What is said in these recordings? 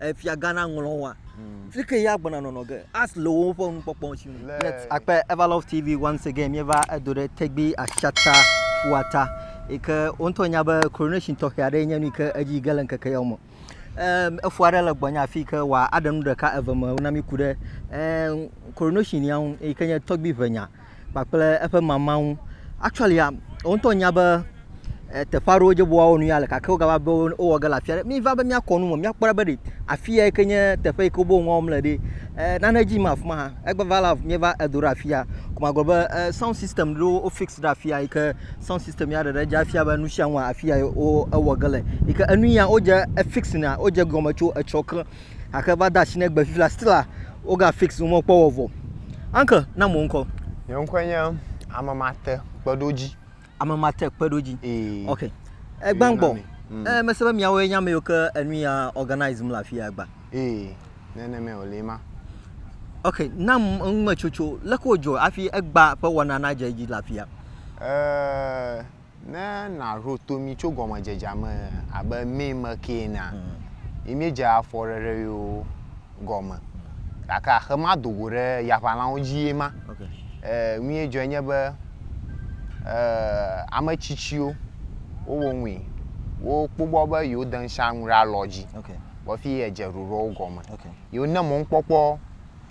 efia gã na ŋlɔ wa. Hmm. Fike ya gbɔna nɔnɔ ge. As le wo ƒe nukpɔkpɔ si. Let akpe Everlove TV once again mi va edo ɖe tegbi ashata fuata. Ike wo ntɔ nya be coronation tɔ xia ɖe nye nu ke edzi ge le nkeke yawo mo. Ehm efua ɖe le gbɔnya fi ke wa aɖe nu ɖeka eve me na mi ku ɖe ehm coronation ya ŋu ike nye tɔgbi ʋe nya. kpakple eƒe mama ŋu. Actually a, wo ŋutɔ nya be e, teƒe aɖewo dze be woawɔ nu ya le gake wogava be wowɔ ge le afi aɖe. Miva be míakɔ nu me, míakpɔ ɖa be ɖe afi ya ke nye teƒe yi ke wobe nua wɔm le ɖe. E, nane dzi yim afi ma hã. Egbeva la míeva edo ɖe afi ya. Ko magblɔ be e, sound system ɖewo wo fix ɖe afi ya yi ke sound system ya ɖeɖe dze afia be nu sia nua afi ya wo ewɔ ge le. Yi ke enu ya wodze efix na wodze gɔme tso etsɔ ke Gake va de asi ne gbe fifia Stella woga fix nu mɔ kpɔ wɔ vɔ. Uncle na mo ŋkɔ. Nye ŋkɔe nye Amemate Kpeɖodzi. Amemate Kpeɖodzi. Ee. Ok. Egban gbɔ. Mm. Eh, mese be miawoe nye ame yiwo ke enu ya organize mu le afi ya agba. Ee. Nenemae wòle ma. Ok, na ŋumetsotso leke wòdzɔ hafi egba ƒe wɔna nadze edzi le afi ya. Eh, Ne nàɖo to mí tso gɔmedzedzea me abe mɛ me ke enea, yi míedze afɔɖeɖe yewo gɔme. Gake axe mado go ɖe yaʋalãwo dzi ye ma. Ɛɛ, nu ye dzɔe nye be, ɛɛ, ame tsitsiwo wowo ŋui. Wokpɔgbɔ be yewode ŋsha nu ɖe alɔ dzi vɔ efi edze ɖoɖoɔ wo gɔme. Yi wone mɔnukpɔkpɔ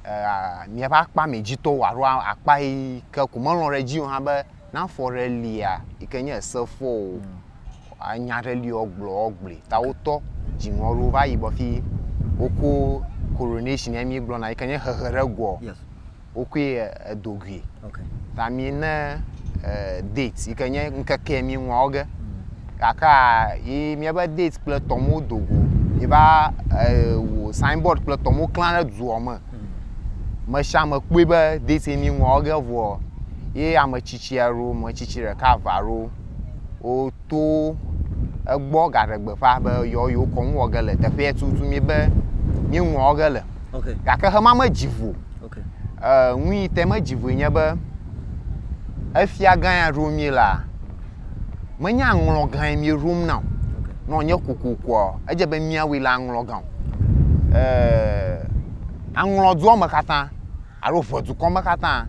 ɛɛ, mìaƒe akpa mɛ dzitɔwo alo akpa yi ke ko melɔ̃ ɖe edzi o hã be Ne afɔ ɖe lia yi ke nye ese fɔ o, anya ɖe li woagblɔ woagblɔe. Ta wotɔ dziŋɔ aɖewo va yi gbɔ fi woko coronation yɛ mígblɔna yi ke nye hehe ɖe egoɔ, wokoe edo gui. Ta mí ne date yi ke nye ŋkeke yɛ míŋlɔ wo ge. Gakaa yi míabe date kple tɔwo medo go o. Míeva wɔ signboard kple tɔwo klã ɖe duɔ me. Meshame kpɔe be deteni ŋua wɔ ge vɔ ye ame tsitsi aɖewo, ame tsitsi ɖeka eve aɖewo woto egbɔ gaɖe gbeƒã be yewo yewo kɔnu wɔ ge le teƒea tutu mi be mi ŋua wɔ ge le. Okay. Gake hema medzi vo. Okay. Uh, nu yi te medzi voe nye be efia gã ya ɖo mi la, menye aŋlɔ gãe mieɖom na o. Ne wònye kokokoa, edze be míawui le aŋlɔ gã o. Eeee aŋlɔ dua me katã alo ŋe dukɔ me katã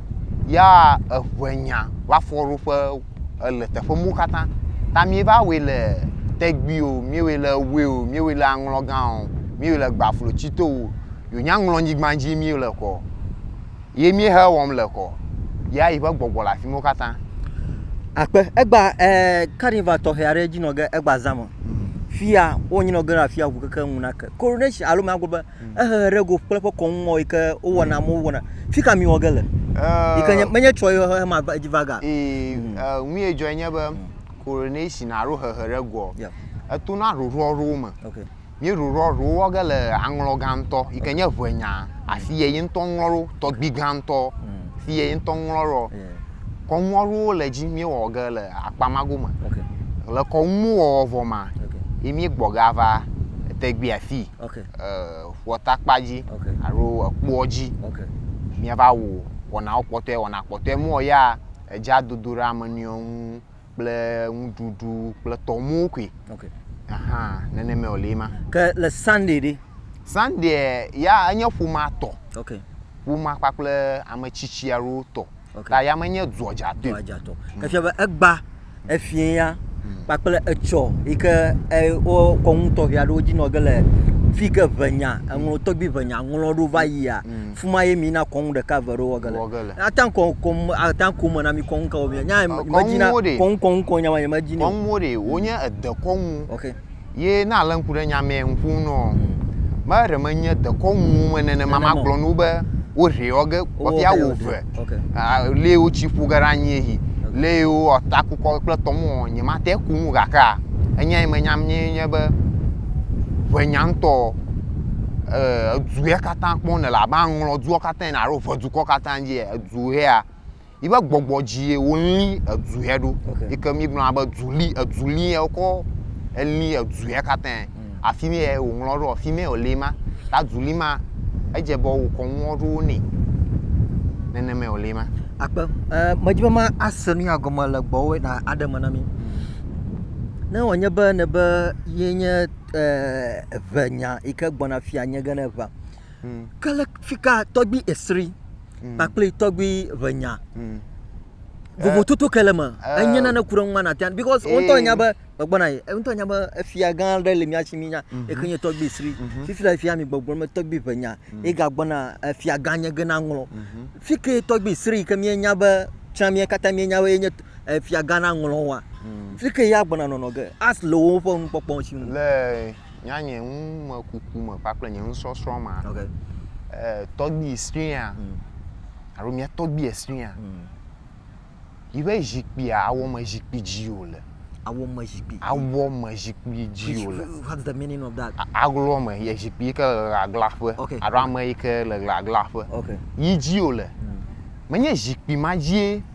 ya eŋe nya va fɔ ɖo ƒe ele teƒe mɔ katã. Ta míeva wui le tɛgbui o, míewui le ewue o, míewui le aŋlɔ gã o, míewui le gbaflo tsito o, wònye aŋlɔ nyigba dzi mí le kɔ. Ye míehe wɔm le kɔ. Yea yi ƒe gbɔgbɔ le afi mɔ katã. Akpe egba e carnival tɔxɛ aɖe edzi nɔ ge egba zã me. Fia wo nyi nɔ ge ɖa fia ŋu keke ŋu na ke. Coronation alo mía gblɔ be mhm. ehe ɖe go kple ƒe kɔnu ŋɔ yi ke wo wɔna mo wɔna. Fi ka mi wɔ ge le? Yi ke nye menye tsɔ ye ma va edzi va ga. E mhm. ŋu ye dzɔ nye be mhm. coronation alo hehe ɖe go. Eto na ɖoɖo aɖewo me. Okay. Míeɖo ɖɔ ɖewo wɔ ge le aŋlɔ gã ŋtɔ yi ke nye eŋɛ nya si yɛ yi ŋtɔ ŋlɔ ɖo tɔgbi gã ŋtɔ si yɛ yi ŋtɔ ŋlɔ ɖɔ. Kɔnu aɖewo le edzi míewɔ ge le akpa ma gome. Le kɔnu wɔwɔ vɔ ma yi míegbɔ ge ava tegbea si ƒuatakpa dzi alo ekpoɔ dzi míava wɔ wɔnawo kpɔtɔɛ. Wɔna kpɔtɔɛ mɔ ya edze adodo ɖe ame nɔewo ŋu. kple nuɖuɖu kple tɔmɔwo koe okay. ahan nenema wòle ema ke le sunday ɖi sunday ya enye ƒomea tɔ okay. ƒomea kpakple ame tsitsi aɖewo tɔ okay. ta ya menye duadzatɔ duadzatɔ mm. efia be egba efie ya mm. kpakple etsɔ yi ke wo kɔnu tɔxɛ aɖewo dzi nɔ ge le fi ke ʋenya eŋlɔ tɔgbi ʋenya ŋlɔ ɖo va yia mm. Fuma ye mi na kɔŋu ɖeka ve ɖo wɔge le. Wɔge le. Ata kɔ kɔ ata kɔ me na mi kɔŋu ka wɔmi. Nya me me dzi na kɔŋu kɔŋu kɔŋu nya ma ye me dzi ni. Kɔŋu mo ɖe wo nye ede kɔŋu. Ok. Ye na ale ŋku ɖe nya mea ŋku ŋu nɔ. Me ɖe me nye de kɔŋu wo me nene ma ma gblɔ no be wo hre wɔge kɔ fia wo ve. Ok. A le wo tsi ƒu ge ɖa nyi eyi. Ok. Le yi wo ɔta ku kɔ kple tɔ mɔ nye ma te kunu gakea enya yi me nya mi nye be ʋe nya ŋtɔ. eh, edu ya katã kpɔm nèle abe aŋlɔ dua katã ene alo ʋe dukɔ katã dzi ya, edu hea, yi ƒe gbɔgbɔ dzie wolĩ edu hɛ ɖo. Okay. Yi ke míegblɔna be du li, edu li ya wokɔ elĩ edu ya katã. Mm. Afi mi ya wòŋlɔ ɖo, afi mi ya wòli ma. Ta du li ma, edze be wokɔ nuwo ɖo nɛ. Nenema wòli ma. Akpe, eh, medi be ma ase nu ya gɔme le gbɔwɔe na aɖe me na mi. Ne wònye be nebe ye nye ʋe nya yi ke gbɔna fia nye ge ne ʋea. Hmm. Ke le fika tɔgbi esri hmm. kpakple tɔgbi ʋe nya. Hmm. Vovototo ke le me. Eh. Enye nane ku ɖe ŋu mana tian because wo ŋutɔ nya be gbɔgbɔna yi. Wo ŋutɔ nya be efia gã aɖe le mía si mi nya. Mhm. Eke nye tɔgbi esri. Mhm. Fifi la fia mi gbɔgblɔ me tɔgbi ʋe nya. Mhm. Ega gbɔna efia gã nye ge na ŋlɔ. Fike tɔgbi esri ke mía nya be tsã mía katã mía nya be enye. eh, fiagã naŋlɔ woa? Hmm. Fi ke ya gbɔna nɔnɔ ge, as le woƒe nukpɔkpɔ ŋuti nu. Le nya nye numekuku me kpakple nye nusɔsrɔ̃ ma, okay. eh, tɔgbi sria hmm. alo mia tɔgbi sria hmm. yi ƒe zikpuia awɔ me zikpui dzi o le. Awɔ me zikpui. Awɔ me zikpui dzi o le. What's the meaning of that? Aglo me ye zikpui ke le ɣagla ƒe. Okay. Alo ame yi ke le ɣagla ƒe. Okay. Yi dzi o le. Hmm. Menye zikpui ma dzie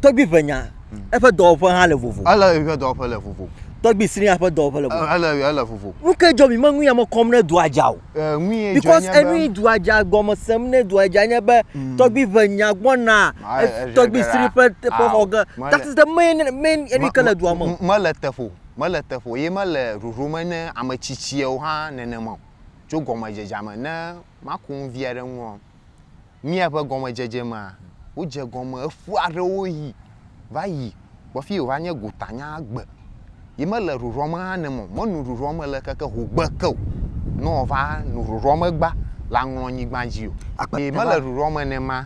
Tɔgbui ƒe nya, eƒe dɔwɔƒe hã le vovo. Ele eƒe dɔwɔƒe le vovo. Tɔgbui srĩa ƒe dɔwɔƒe le vovo. Ele ele vovo. Nu ke dzɔ mi me nu ya me kɔm ne dua dza o. Nu ye dzɔ because nye be. Because enu dua dza gɔme sem ne dua dza nye be mm. tɔgbui ʋe nya gbɔna tɔgbui sri ƒe ƒe xɔ ge. That is the main main enu ke le dua me. Mele teƒo mele teƒo ye mele ɖoɖo me ne ame tsitsiawo hã nenema o. Tso gɔmedzedzea me ne maku nu vi aɖe ŋu. mía ƒe gɔmedzedze mea, wodze egɔme eƒu aɖewo ʋi va yi kpɔ fi wòva nye gotanya gbe. Yi mele rorɔme hã ne mɔ menu rorɔme le keke hogbe ke o, ne wòva nu rorɔme gba le aŋlɔ nyigba dzi o. Yi mele rorɔme ne ma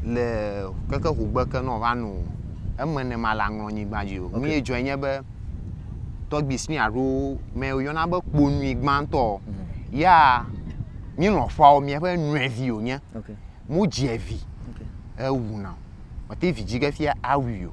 le keke hogbe ke ne wòva nu eme ne ma le aŋlɔ nyigba dzi o. Nu ye dzɔe nye be, tɔgbui Smith aɖewo me woyɔna be kponui gbãtɔ ya, mi lɔ̃fawo miaƒe nɔevi wònye. Okay. Modzi vi. Okay. Ewu na. Mete vi dzi ge fia awui o.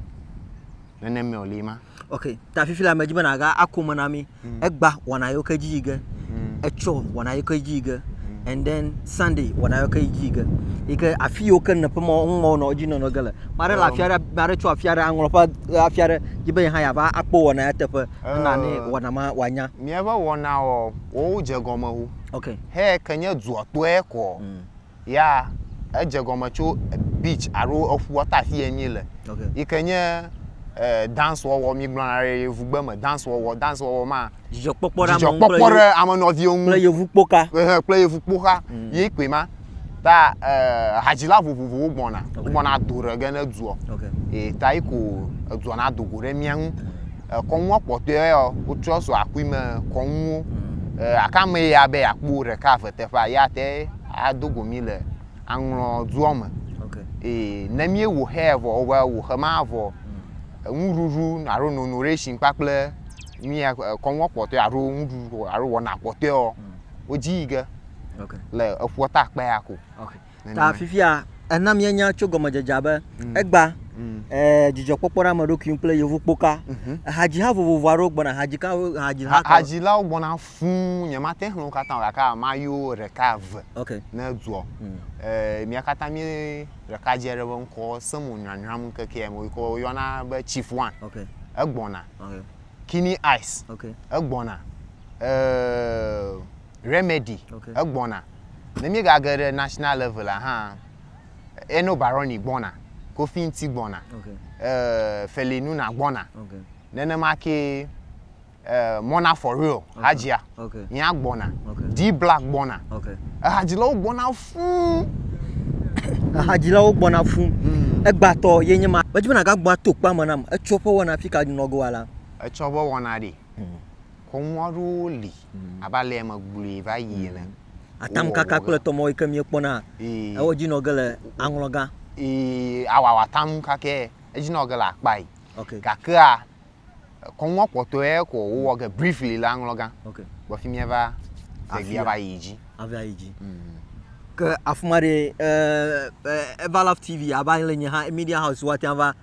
Nenema wòle ma. Okay. Ta fifi la medzi be nàga ako me na mi. Mm. Egba wɔna yewo ke dzi yi ge. Mm. Etsɔ wɔna yewo ke dzi yi ge. Mm. And then Sunday wɔna yewo ke dzi yi ge. Yi ke afi yiwo ke nɔƒe ma ŋu ma wonɔ edzi nɔnɔ ge le. Ma ɖe le afi aɖe, ma ɖe tso afi aɖe aŋlɔ ƒe afi aɖe dzi be yehã yeava akpɔ wɔna ya teƒe. Ena ne wɔna ma wòanya. Míaƒe wɔna wɔ, wɔwo dze gɔme wu. Okay. He ke nye dua tɔe kɔ. Mm. Ya edze gɔme tso beach alo eƒua ta afi enyi le. Okay. Yi ke nye eh, dance wɔwɔ mi gblɔna ɖe yevugbe me dance wɔwɔ dance wɔwɔ ma. Dzidzɔkpɔkpɔ ɖe ame ŋu kple yevu kple yevu kpoka. Kple yevu kpoka. Mm. Ye koe ma. ta eh, hadzila vovovowo gbɔna okay. wogbɔna ado ɖe ge ne duɔ okay. e, ta yi ko eduɔ na dogo ɖe mía ŋu mm. kɔnua kpɔtɔe yɔ wotrɔ so akui me kɔnuwo mm. e, akame ya be akpo ɖeka eve teƒea ya te adogo mi le aŋlɔ duɔ me okay. e, ne mie wo xe vɔ wobe wo xe ma vɔ mm. nuɖuɖu alo nono ɖe shi kpakple mía kɔnua kpɔtɔe alo nuɖuɖu alo wɔna kpɔtɔe yɔ mm. wodzi yi ge okay. le eƒua ta kpea ko okay. ta fifia ena mienya tso gɔmedzedzea be mm. egba mm. eh, dzidzɔkpɔkpɔ ɖe ame ɖokui kple yevu kpoka mm -hmm. hadziha vovovo aɖewo gbɔna hadzilawo gbɔna fuu nyemate ŋu wo katã gake amayiwo ɖeka eve okay. ne duɔ mm. eh, mia katã mi ɖeka dze ɖe be ŋkɔ semo nyanyram ŋkekea me yike woyɔna be chief one okay. egbɔna okay. kini ice okay. egbɔna eh, Remedy okay. egbɔna. Ne míegage ɖe national level hã, Eno Baroni gbɔna, Kofi Nti gbɔna, okay. uh, Feli Nuna gbɔna. Okay. Nenema ke uh, Mona for real okay. hadzia okay. yea gbɔna. Okay. D Black gbɔna. Okay. Ehadzilawo gbɔna fuu. Ehadzilawo gbɔna fuu. Hmm. Egbatɔ ye nye ma. Medzi be nàgagbɔ ato kpame nam. Etsɔ ƒe wɔna fi ka nɔgoa la. Etsɔ ƒe wɔna ɖi. Hmm. Xɔmɔ aɖewo li abe alea megblɔe va yi ene. Atamkaka kple tɔmɔ yi ke míekpɔna ewɔ edzi nɔ ge le aŋlɔga. Ee, awɔ atamkaka edzi nɔ ge le akpae. Okay. Gakea kɔmɔ kpɔtɔe ko wowɔ ge briefly le aŋlɔga. Okay. Gbɔ fi míava vevia va yi dzi. Ava yi dzi. Mm. Ke afima ɖe, eh, eh, Everlove TV ava le nye hã, Media House woatia va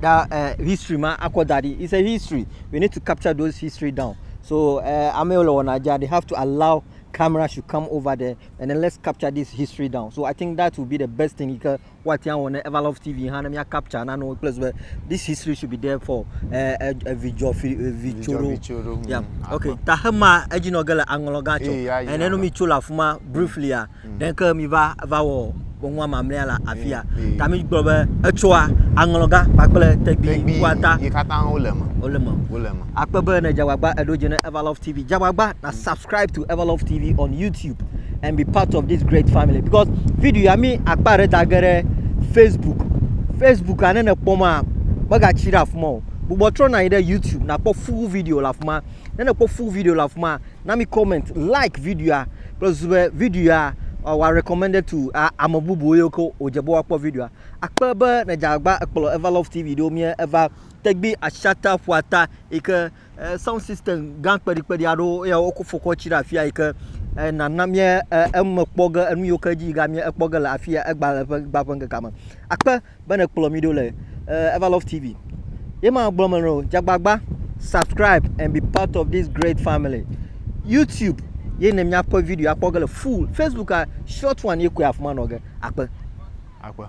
da history ma akɔ da ɖi. It's a history we need to capture those history down so ame yiwo le wɔna dzia they have to allow camera should come over there and then let's capture this history down so I think that will be the best thing yi ke woate ŋu awɔ ne Everlove TV hã ne mía capture nanewo kple zi be this history should be there for evidzɔ fi evidzoro Vidzoro, mm, yeah okay ta hema edzi nɔ ge le aŋlɔ gã tsɔ Eya, eya. ene no mi tso le afi ma briefly a Nenke miva va wɔ ŋua mamlea la afia ta mi gblɔ be etsɔa aŋlɔga kpakple tegbi ŋua ta yi katã wo le me wo le me wo le me akpe be ne jagbagba eɖo dze ne everlove tv jagbagba na subscribe to everlove tv on youtube and be part of this great family because video ya mi akpa ɖe dage ɖe facebook facebook ane ne kpɔ ma mega tsi ɖe afuma o bubɔ trɔ na yi ɖe youtube na kpɔ full video la afuma ne ne kpɔ full video la afuma na mi comment, like videoa kple zu be videoa wòa recommended to ame bubuwo yiwo ke wòdze be woakpɔ videoa. Akpe be nèdze agbagba ekplɔ Eva Love TV ɖo mía Eva tɛgbui ashata ƒuata yi ke eh, sound system gã kpeɖikpeɖi aɖewo ya wokɔ fɔkɔ tsi ɖe afia yi ke eh, nana mía eh, eme kpɔ ge enu yiwo ke dzi yi ga mía ekpɔ ge le afia egbale ƒe gbaƒe ŋkekea me. Akpe be ne kplɔ mi ɖo le uh, Ever Love TV. Ye ma gblɔ me no jagbagba subscribe and be part of this great family. YouTube ye ne miakpɔ video akpɔ ge le full Facebook a short one ye koe afuma nɔ ge akpe. Akpe.